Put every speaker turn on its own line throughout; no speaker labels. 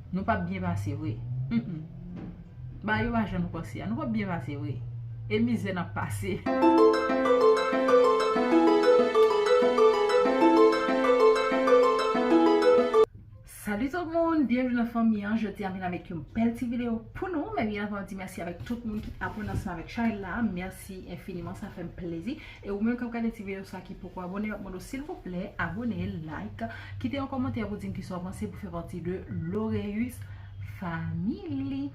Nou pap byen pase vre humm. Bagay yo pa jan nou panse a nou pap byen pase vre e mizè nap pase. Salut tout moun byenvni nan fanmi an jodia vin avèk yon bèl ti video pou nou men byen avan di mèsi avèk tout moun ki abone ansanm avèk chanèl la mèsi enfiniman sa fèm plezi. E ou menm kap gade ti video sa ki poko abone map mande w silvouplè abone like kite yon kòmantè pou dim kisa w panse pou fè pati de Loreus family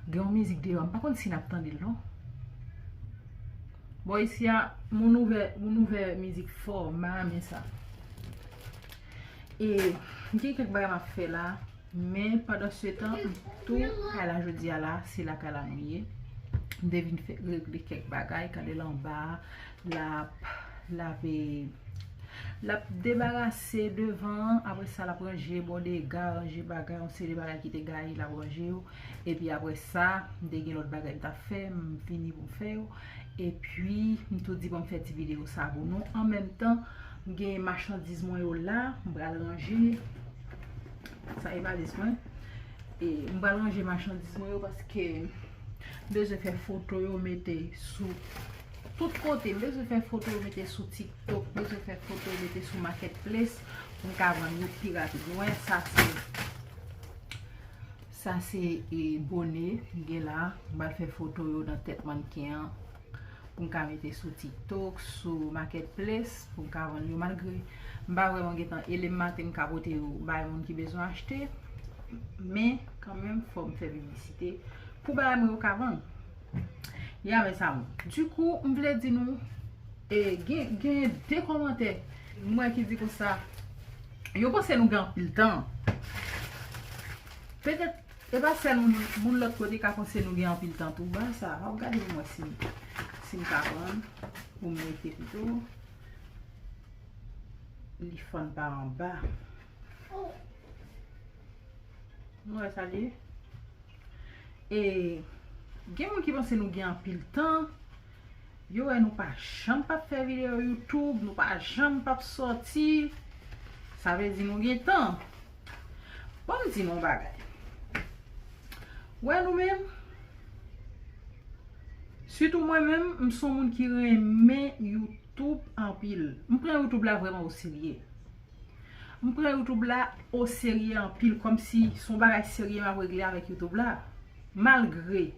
gen yon mizik deyò m pa konn si nap tande l non bò isi a moun ouvè moun ouvè mizik fò m pa renmen sa e gen kèk bagay map fè la. Men pandansetan m tou kay la jodi a la, se la kay la nou ye. M te vin fè regle kèk bagay, gade l anba a, l ap lave, l ap debarase devan an, apre sa l ap ranje bò dega, ranje bagay, yon seri de bagay ki te gaye l ap ranje yo, epi apre sa m te gen lòt bagay m t ap fè, m vini pou m fè yo, epi m tou di bon m fè ti videyo sa pou nou, anmenmtan m gen machandiz mwen yo la, m pral ranje. Sa e valiz mwen. E m pral ranje machandiz mwen yo paske m bezwen fè foto yo mete sou tout kote. M bezwen fè foto yo mete sou TikTok. M bezwen fè foto yo mete sou Market Place. M ka vann yo pi rapid. Mwen sa se sa se e bone m gen la. M pral fè foto yo nan tèt mannequin an. pou m ka mete sou tiktok, sou market place pou m ka vann yo malgre m pa vreman gen tan e lem maten m ka pote yo bay moun ki bezwen achte men kan menm fò m fè piblisite pou bagay mwen yo ka vann ya men sa moun di kou m vle di nou e gen gen de komante mwen ki di konsa yo panse nou gen anpil tan petèt E pa sèl moun moun lòt kote ka panse nou gen anpil tan tou. Ba sa a, ou gade pou mwen si si m ka pran pou m mete pito. Li fann pa anba. Nou wè sa li ye? E gen moun ki panse nou gen anpil tan. Yo wè nou pa janm pap fè video youtube nou pa janm pap soti sa vle di nou gen tan bon m di nou yon bagay wè nou menm sitou mwen menm m son moun ki renmen youtube anpil m pran youtube la vreman oserye m pran youtube la oserye anpil kòm si son bagay serye m ap regle avèk youtube la malgre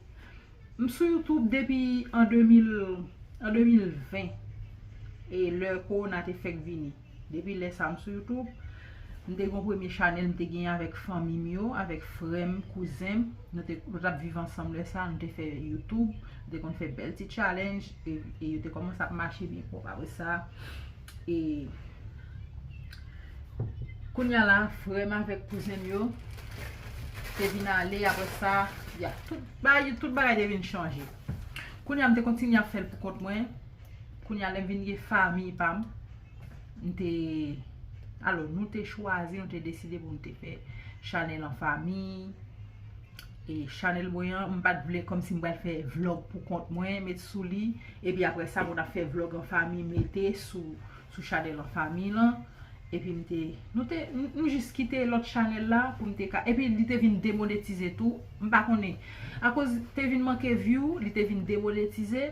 M sou youtube depi an 2020 e lè korona te fèk vini depi lè sa m sou youtube m te gon premye chanèl m te genyen avèk fanmi m yo avèk frè m kouzen m nou te nou tap viv ansanm lè sa nou te fè youtube nou te konn fè bèl ti challenge e yo te kòmanse ap mache byen pwòp apre sa. E Kounya la frè m avèk kouzen m yo te vin ale aprè sa ya tout bagay tout bagay te vin chanje Kounya m te kontinye ap fè l poukont mwen Kounya lè m vin gen fanmi pa m m te alò nou te chwazi nou te deside pou nou te fè chanèl an fanmi e chanel mwen an m pat vle kòmsi m pral fè vlog pou kont mwen met sou li epi aprè sa moun ap fè vlog an fami mete sou chanel an fami lan epi m te nou te m jis kite lòt chanel la pou m te ka epi li te vin demonetize tou m pa konnen akoz te vin manke vyou li te vin demonetize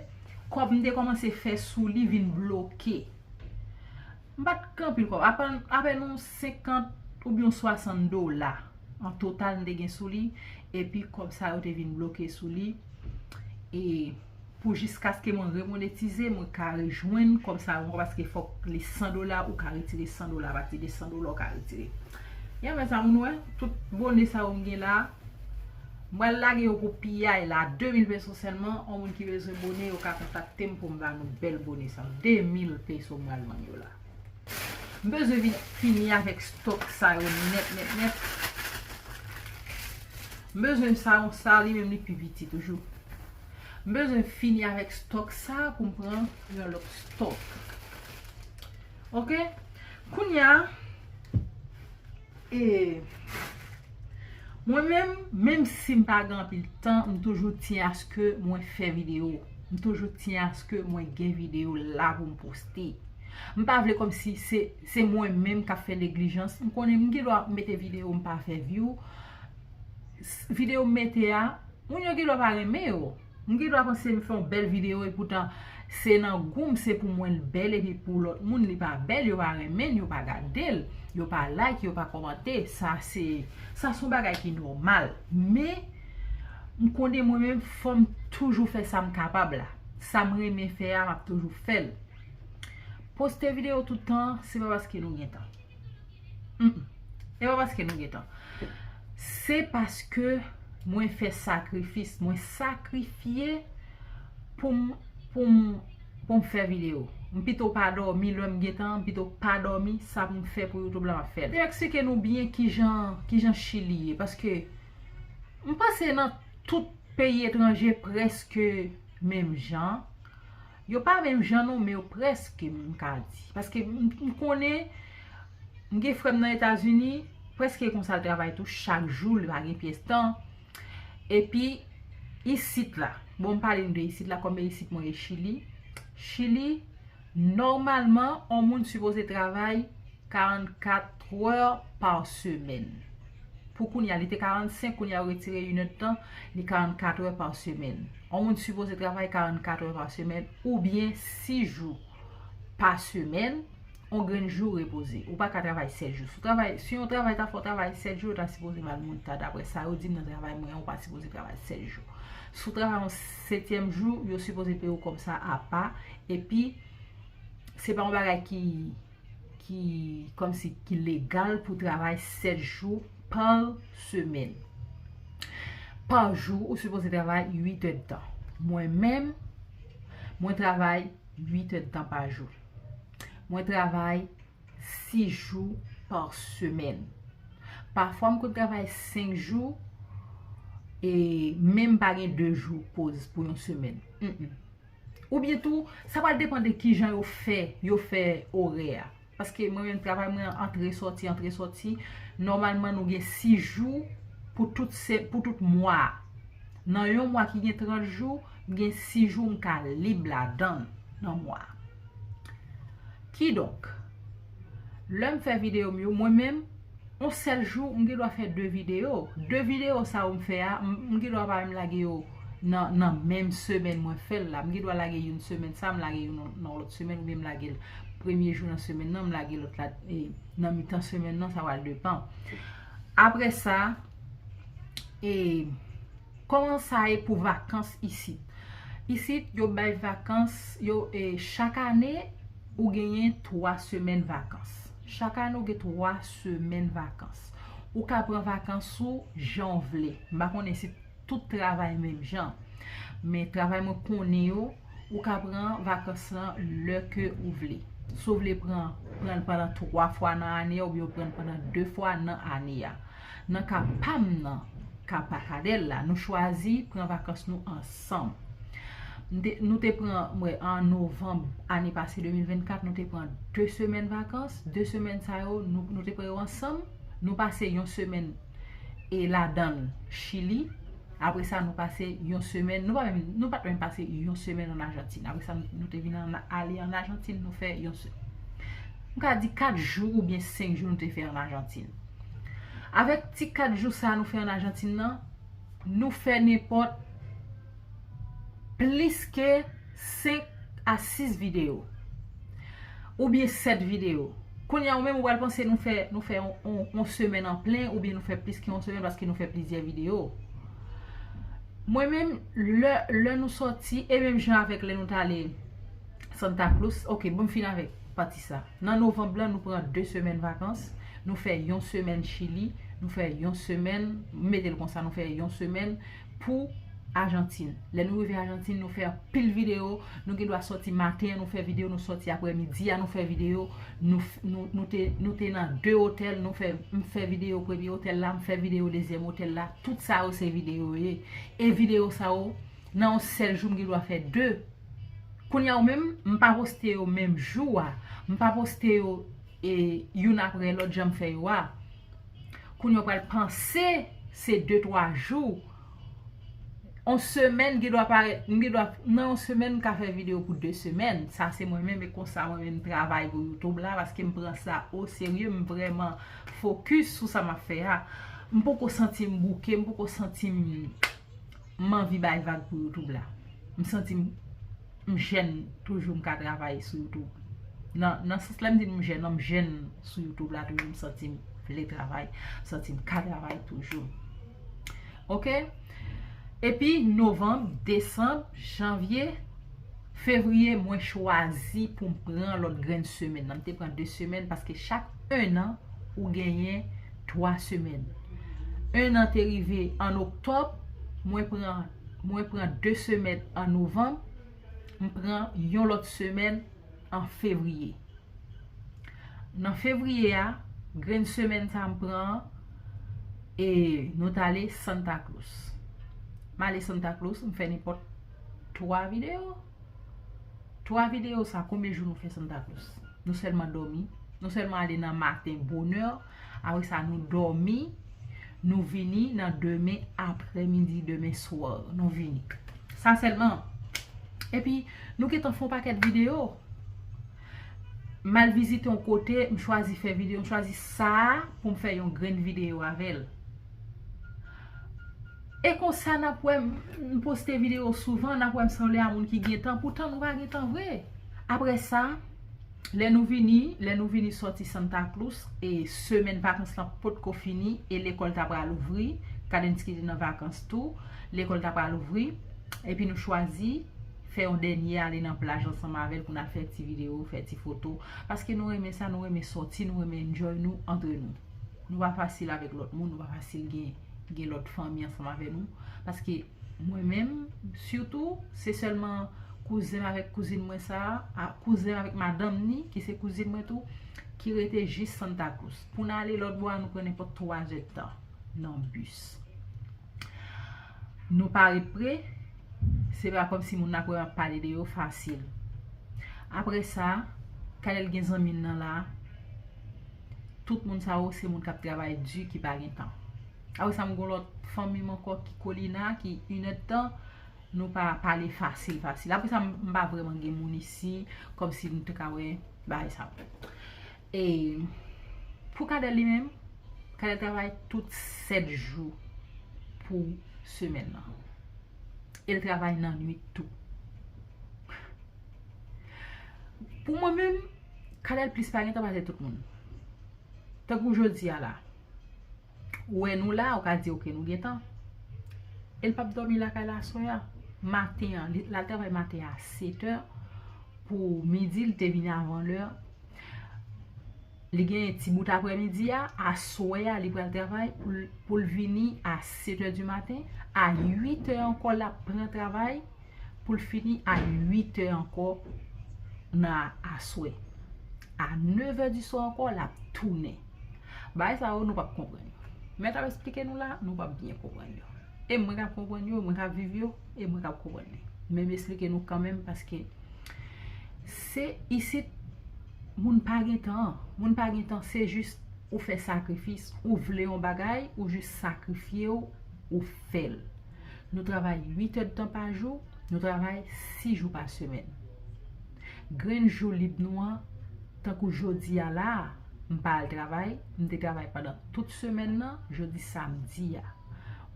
kòb m te kòmanse fè sou li vin bloke M pa t gen anpil kòb. Apèn yon 50 oubyen yon 60 dola an total m te gen sou li. Epi kòb sa yo te vin bloke sou li. E pou jiskaske mwen remonetize, mwen ka rejwenn kòb sa yo ankò paske fòk li 100 dola, ou ka retire 100 dola. Apati de 100 dola ou ka retire. Ya men sa moun wè, tout bone sa yo m gen la. M pral lage yo pou piyay la 2000 peso sèlman on moun ki bezwen bone yo ka kontaktem poum ba nou bèl bone sa yo 2000 peso m pral vann yo la m bezwen vin fini avèk stok sa yo nèt nèt nèt m bezwen sa yo sa li menm li pi piti toujou m bezwen fini avèk stok sa poum pran yon lòt stok ok kounya. E Mwen menm, menm si m pa gen anpil tan, m toujou tyen aske mwen fè videyo. M toujou tyen aske mwen gen videyo la pou m poste. M pa vle kòm si se mwen menm k ap fè neglijans. M konnen m gen dwa mete videyo m pa fè vyou. Videyo m mete a, moun yo gen dwa pa renmen yo. M gen dwa panse m fè yon bèl video epoutan se nan gou m se pou mwen l bèl epi pou lòt moun li pa bèl yo pa renmen l yo pa gade l yo pa like yo pa kòmante sa se sa son bagay ki nòmal men m konnen mwen menm fò m toujou fè sa m kapab la sa m renmen fè a m ap toujou fè l poste video toutan se pa paske nou gen tan. Humm se pa paske nou gentan se paske mwen fè sakrifis mwen sakrifye poum poum poum fè video m pito pa dòmi lèm gentan m pito pa dòmi sa pou m fè pou youtube la map fèl. Eksplike nou byen kijan kijan chili ye paske m panse nan tout peyi etranje preske menm jan Yo pa menm jan non men yo prèske m ka di. Paske m konnen, m gen frè m nan Etazini, prèske konsa l travay tou, chak jou li pa gen pyès tan. Epi, isit la, bon m pale nou de isit la, kòm e isit mwen e Chili. Chili, nòmalman, on moun sipoze travay 44 trè pa semèn. Pou kounye a, li te 45, kounye a yo retire inèdtan, li 44 trè pa semèn. On moun sipoze travay 44 è pa semèn oubyen 6 jou pa semèn, on grenn jou repoze. Ou pa ka travay 7 jou. Si on travay ta fè w travay 7 jou, yo ta sipoze mal mouta dapre sa yo di m nan travay mwen an, ou pa sipoze travay 7 jou. Si w travay on setyèm jou, yo sipoze peye w kòb sa apa epi se pa on bagay ki ki kòmsi ki legal pou travay 7 jou pa semèn. Pa jou ou sipoze travay 8 èdtan. Mwen menm, mwen travay 8 èdtan pa jou. Mwen travay 6 jou pa semèn. Pafwa m konn travay 5 jou e menm pa gen 2 jou poz pou yon semèn. Oubyen tou, sa pral depan de kijan yo fè, yo fè orè a. Paske mwen menm travay mwen an antre soti, antre soti, nòmalman nou gen 6 jou pou tout se, pou tout mwa a. Nan yon mwa ki gen 30 jou, m gen 6 jou m ka lib ladan l nan mwa a. Kidonk. lèm fè video m yo mwen menm on sèl jou m gendwa fè 2 video 2 video sa yo m fè a m gendwa pa menm lage yo nan menm semèn mwen fèl la m gendwa lage youn semèn sa m lage youn nan lòt semèn oubyen m lage l premye jou nan semèn nan m lage lòt la nan mitan semèn nan sa va depan aprè sa e Koman sa ye pou vakans isit? Isit yo bay vakans yo e chak ane ou genyen 3 semèn vakans. Chak ane ou gen 3 semèn vakans. Ou ka pran vakans ou jan ou vle. M pa konnen si tout travay menm jan. Men travay mwen konnen yo, ou ka pran vakans lan lè ke ou vle. Si ou vle pran, pran l pandan 3 fwa nan ane a oubyen ou pran l pandan 2 fwa nan ane a. Nan ka pa m nan, ka pa Kadel la, nou chwazi pran vakans nou ansanm. M te, nou te pran, m wè an novanm ane pase 2024, nou te pran 2 semèn vakans, 2 semèn sa yo nou te pran yo ansanm, nou pase yon semèn e ladan l Chili, apre sa nou pase yon semèn, nou pa menm, nou pat menm pase yon semèn an Ajantin, apre sa nou te vin ale an Ajantin nou fè yon se, m ka di 4 jou oubyen 5 jou nou te fè an Ajantin. Avèk ti 4 jou sa nou fè an Ajantin nan, nou fè nenpòt plis ke 5 a 6 videyo. Oubyen 7 videyo. Kounya ou menm ou pral panse nou fè yon semèn an plen oubyen nou fè plis ke yon semèn paske nou fè plizyè videyo. Mwen menm, lè nou sòti, e menm jan avèk lè nou tale. Santa Cruz Ok bon m fin avèk pati sa Nan novanb lan nou pran 2 semèn vakans Nou fè yon semèn chili Nou fè yon semèn M mete l konsa nou fè yon semèn Pou ajantin Lè nou rive ajantin nou fè anpil videyo Nou gen dwa soti maten an nou fè videyo Nou soti aprè midi a nou fè videyo Nou te nan 2 otèl Nou fè M fè videyo premye otèl la M fè videyo dezyèm otèl la Tout sa yo se videyo yo ye E videyo sa yo Nan yon sèl jou m gen dwa fè 2. Kounya yo menm m pa poste yo menm jou a m pa poste yo youn aprè lòt janm fè yo a kounya yo pral panse se de twa jou on semèn gen dwa parèt m gen dwa nan on semèn m ka fè video pou de semèn sa se mwen menm e konsa mwen menm travay pou youtube la paske m pran sa o serye m vrèman fokis sou sa m ap fè a m poko santi m bouke m poko santi m M anvi bay vag pou youtube la. M santi m m jèn toujou m ka travay sou youtube. Nan nan sans lè m di m jèn lan m jèn sou youtube la toujou m santi m vle travay, m santi m ka travay toujou. Ok epi novanm, desanm, janvye, fevriye mwen chwazi pou m pran lòt grenn semèn nan. M te pran 2 semèn paske chak 1 an ou genyen 3 semèn. 1 an te rive an oktòb, mwen pran mwen pran 2 semèn an novanm, m pran yon lòt semèn an fevriye. Nan fevriye a, grenn semèn sa m pran an, e nou t ale Santa Cruz. M ale Santa Cruz, m fè nenpòt 3 videyo. 3 video sa konbyen jou nou fè Santa Claus? Nou sèlman dòmi, nou sèlman ale nan maten bonè, apre sa nou dòmi, nou vini nan demen apre midi, demen swa, nou vini. Sa sèlman. E pi nou gentan fon pakèt video. M al vizite yon kote, m chwazi fè video, m chwazi sa pou m fè yon grenn video avèl. E konsa nap wè m poste video souvan nap wè m sanble a moun ki gen tan poutan nou pa gen tan vre aprè sa lè nou vini lè nou vini sòti Santa Cruz e semèn vakans lan potko fini e lekòl ta pral ouvri Kadensky te nan vakans tou lekòl ta pral ouvri epi nou chwazi fè yon dènye ale nan plaj ansanm avèl pou nal fè ti video fè ti foto paske nou renmen sa nou renmen sòti nou renmen enjoy nou antre nou nou pa fasil avèk lòt moun nou pa fasil gen. gen lòt fanmi ansanm avè nou, paske mwen menm, sitou, se sèlman kouzen m avèk kouzin mwen sa a, kouzen m avèk madanm ni, ki se kouzin mwen tou, ki rete jis Santa Cruz. Pou n ale lòt bò a, nou pran nenpòt twa zè tan nan bis. Nou pa ret pre, se pa kòm si moun n ap wè m ap pale de yo fasil. Apre sa, Canel gen zanmi l nan la. Tout moun sa yo se moun kap travay di ki pa gen tan. Apre sa m gon lòt fanmi m ankò ki kolina ki inèd tan nou pa pale fasil fasil. Apre sa m pa vreman gen moun isi kòm si nou te ka wè bagay sa yo. E pou Kadèl li menm, Kadèl travay tout 7 jou pou semèn nan. E l travay nan nwit tou. Pou mwen menm. Canel plis pa gentan pase tout moun. Tankou jodi a la. Ou wè nou la, ou ka di ok nou gentan. El pap domi lakay la aswè a. Maten an, li al travay maten a 7 è. Pou midi li te vini avan lè. Li gen yon ti bout aprè midi a, aswè a li pral travay pou l vini a 7 è di maten. A 8 è ankò la pran travay. pou l fini a 8 è ankò nan aswè. A 9 è di swa ankò l ap tounen. Bagay sa yo nou p ap konprann yo. Mèt ap esplike nou la, nou p ap byen konprann yo. E mwen k ap konprann yo, mwen k ap viv yo, e mwen k ap konprann li. Men m esplike nou kanmenm paske se isit moun pa gen tan an. Moun pa gen tan, se jis ou fè sakrifis. Ou vle yon bagay, ou jis sakrifye ou, ou fè l. Nou travay 8 èdtan pa jou, nou travay 6 jou pa semèn. Grenn jou lib nou an, tankou jodi a la a, m pa al travay, m te travay pandan tout semèn nan, jodi samdi a.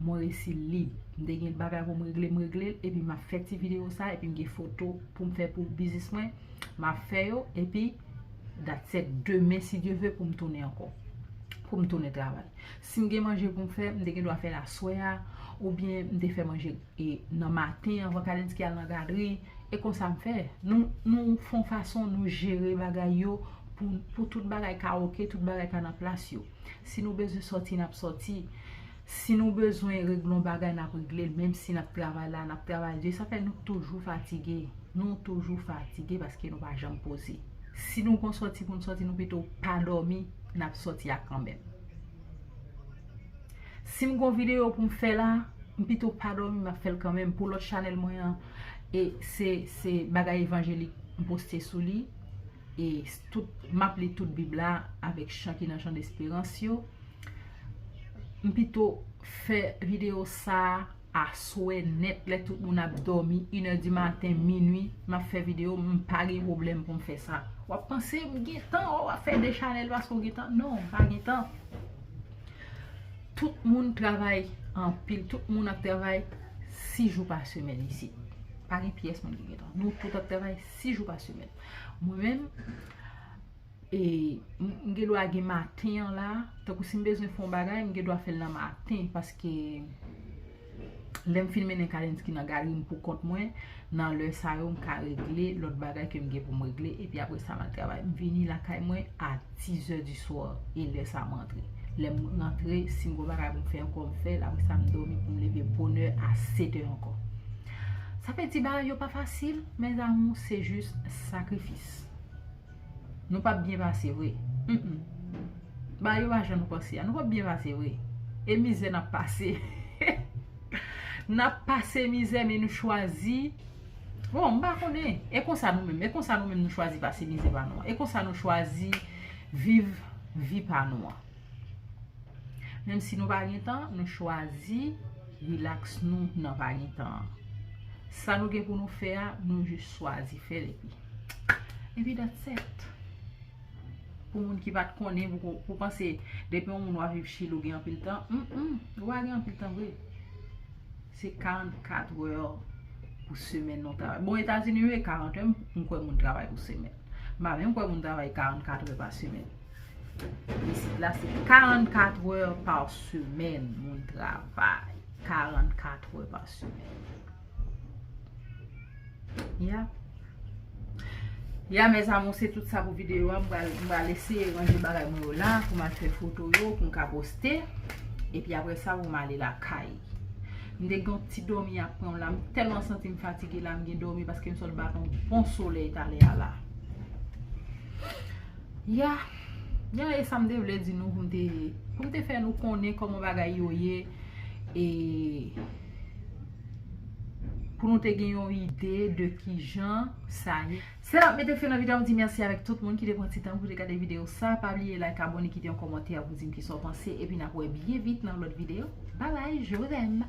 Mwen resi lib. M te gen bagay pou m regle, m regle l, epi m ap fè ti videyo sa, epi m gen foto pou m fè pou biznis mwen, m ap fè yo, epi datset. Demen, si Dye ve, pou m tounen ankò. Pou m tounen travay. Si m gen manje pou m fè, m te gen dwa fè l aswè a, oubyen m te fè manje nan maten anvan Kalenski al nan gadri, e konsa m fè. Nou fon fason nou jere bagay yo pou tout bagay ka oke, tout bagay ka nan plas yo. Si nou bezwen sòti, n ap sòti. Si nou bezwen regle yon bagay, n ap regle l, menm si n ap travay la, n ap travay di. Sa fè nou toujou fatige. Nou toujou fatige paske nou pa janm poze. Si nou gen yon sòti pou n sòti, nou pito pa dòmi, n ap sòti a kanmenm. Sim gon video poum fè la M pito pa domi map fèl kanmenm Pou lòt chanèl mwen an E se se bagay evanjelik m poste sou li E tout map li tout bib la Avèk chan ki nan chan desperans yo M pito fè video sa Aswè nèt lè tout moun ap dòmi, inè di maten, minwi, m ap fè videyo, m pa gen pwoblèm pou m fè sa. W ap panse m gen tan, o w ap fè 2 chanèl paske w gen tan. Non, m pa gen tan. Tout moun travay anpil, tout moun ap travay 6 jou pa semèn isit. Pa gen pyès moun ki gen tan. Nou tout ap travay 6 jou pa semèn. Mwen menm. E m gen dwa gen maten an la. Tankou si m bezwen fè yon bagay, m gen dwa fè l nan maten. Paske lè m fin mennen Kalinski nan galri m pou kont mwen, nan lè sa yo m ka regle lòt bagay ke m gen pou m regle. Epi apre sa m al travay. M vini lakay mwen a dizè di swa. E lè sa m rantre. Lè m rantre, si m gen yon bagay pou m fè ankò, m fè l. Apre sa m dòmi pou m leve bonè a setè ankò. Sa vle di bagay yo pa fasil, mèzamou. Se jis sakrifis. Nou pap byen pase vre Humm ba yo ajan nou panse a Nou pap byen pase vre E mizè nap pase Hehe Nap pase mizè men nou chwazi Bon mpa konnen E konsa nou menm E konsa nou menm nou chwazi pase mizè pa nou an E konsa nou chwazi viv vi pa nou an Menm si nou pa gen tan Nou chwazi relax nou nan pa gen tan an Sa nou gen pou nou fè a Nou jis chwazi fè l epi. Epi dat set. Pou moun ki pat konnen pou panse depi yon moun wap viv chili ou gen anpil tan. Ou pa gen anpil tan vre. Se 44 wè pou semen non ta. Bon etazini yo e 40 wè m kwen moun travay pou semen. M pa menm kwen moun travay 44 wè pa semen. Isit la se 44 wè pa semen moun travay. 44 wè pa semen. Ya Ya mes amour se tout sa pou video a M pral eseye ranje bagay mwen yo la Pou m al fè foto yo pou m ka poste E pi apre sa pou m ale lakay M te gen yon ti dòmi ap pran m la M tèlman santi m fatige la M gen dòmi paske m sot bat yon bon solèy talè a la Ya Ya e sa m te vle di nou pou m te Pou m te fè nou konnen kòman bagay yo ye E Pou nou te gen yon ide de kijan sa ye. Se la m mete fen nan video a m di mèsi avèk tout moun ki te pran ti tan pou te gade video sa pa bliye like abone kite yon kòmantè pou di m kisa w panse epi n ap wè byen vit nan yon lòt video bye bye je vous aime.